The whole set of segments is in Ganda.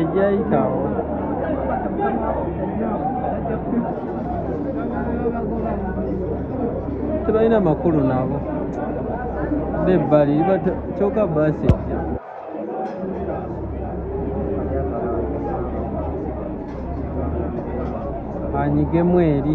ejayitawo tebalina makulu nabo bebbali kyoka baasi ejja anyigemu eri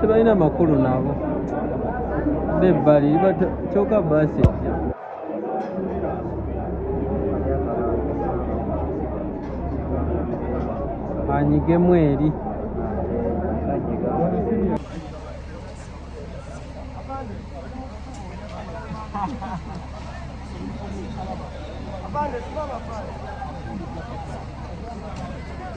tebalina makulu nabo bebbali kyoka baasi ejja anyigemu eri Abandoned,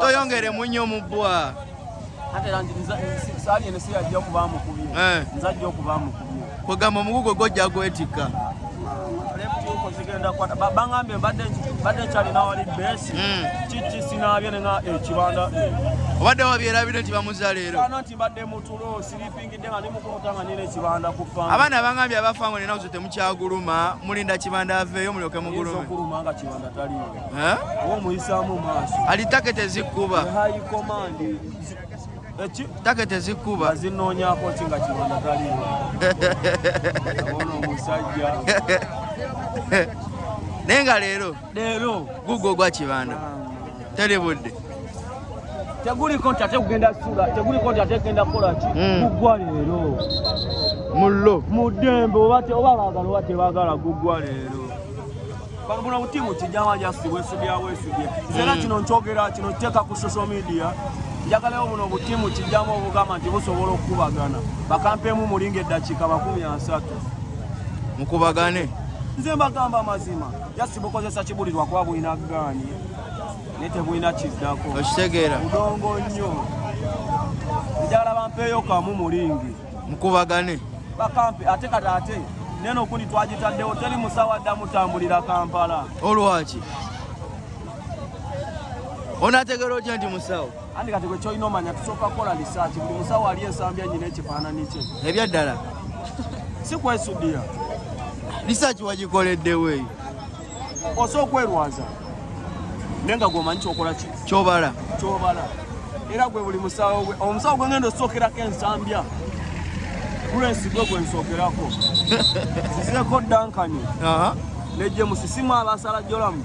toyongere munyo mubwa kwegamba omugugu gwojja gwetikka bagambye mbadde nkyalina wali besi hmm. kiki sinaabye nena ekibanda eh, eh. obadde wabyerabire nti bamuza leero nti mbadde mutulo abaana abangambye abafa ngo ninazo temukyaguluma mulinda kibanda aveeyo mulyoke mugulume ali take tezikuba take tezikuba zinonyako kinga kibanda taliyo omusajja naye nga leero leero gugo gwa kibanda teri budde teguliko nti ate kugenda sula teguliko nti ate kugenda kukola ki hmm. gugwa leero mullo mu ddembe oba baagala oba tebaagala gugwa leero bagula butimu kijama jasi wesubya wesubye zera hmm. kino nkyogera kino kiteeka ku social media njagalayo buno butimu kijama obugamba nti busobola okukubagana bakampemu mulinga eddakiika makumi asatu mukubagane nze mbagamba amazima just bukozesa kibulirwa kuba bulina gaani naye tebulina kiddako okitegeera udongo nnyo njagala bampeeyo kamu mulingi mukubagane bakampe ate kati ate neno okundi twagitaddewo teri musawo adda mutambulira kampala olwaki onategeera otya nti musawo Andi kati gwe kyolina omanya tusooka kukola lisaaki buli musawo ali ensambi enyina ekifaananyi kye ebyaddala si kwesudiya lisaaki wagikoleddewo eyo osa okwerwaza naye nga gwomanyi kyokola ki kyobala kyobala era gwe buli musawo gwe omusawo gwe ngenda osookerako ensambya gulesi gwe gwe nsookerako sizeeko dankani nejje musisimu abasalajolamu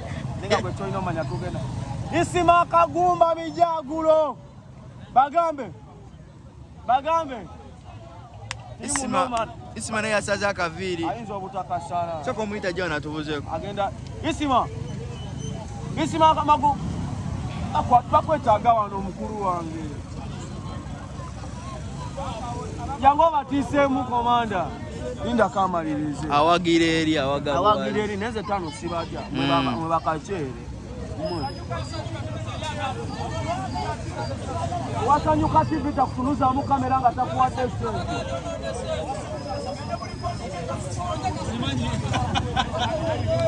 isima kagumba mijagulo bagambe bagambe isima isima naye asaze akaviiri ayinza obutakasala soka omuyita jona atubuzeko agenda isima isima magu bakwetaaga wano omukulu wange Jangu obatiiseemu komanda. Linda kamalirize. Awagira eri awagala. Awagira eri neze tano sibaja. Mwe baba mwe bakachere. Wasanyuka TV takutunuzamu kamera nga takuwadde sente.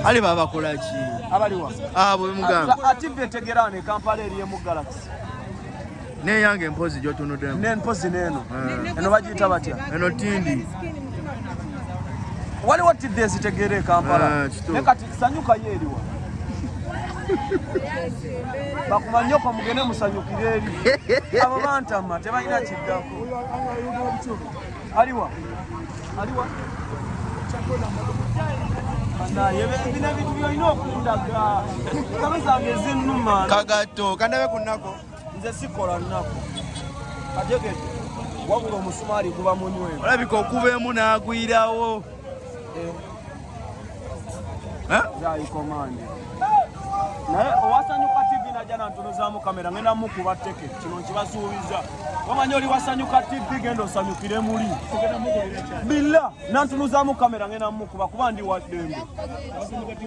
Ali baba kola ki? Abaliwa. Ah, bwe mugamba. Ati vetegerane Kampala eriye mu Galaxy. neyange mpozi gyotunudemu ne mpozi neeno eh. eno bagiyita batya eno tindi waliwo tidde ezitegeera ekampala eh, ne kati sanyuka yo eriwa bakumanyoko mugende musanyukire eri abo bantama tebalina kiddako aliwa aliwa kagatto kandabe ku nnako nze sikola nnaku ategedde wabula omusumaali guba munywevu olabika okuba emu n'agwirawo eh. eh? zaikomande naye owasanyuka tv najja nantunuzamu kamera ngenda mukuba teke kino nkibasuubiza wamanya oli wasanyuka tv genda osanyukire muli billa nantunuzamu kamera ngenda mukuba kuba ndi waddembe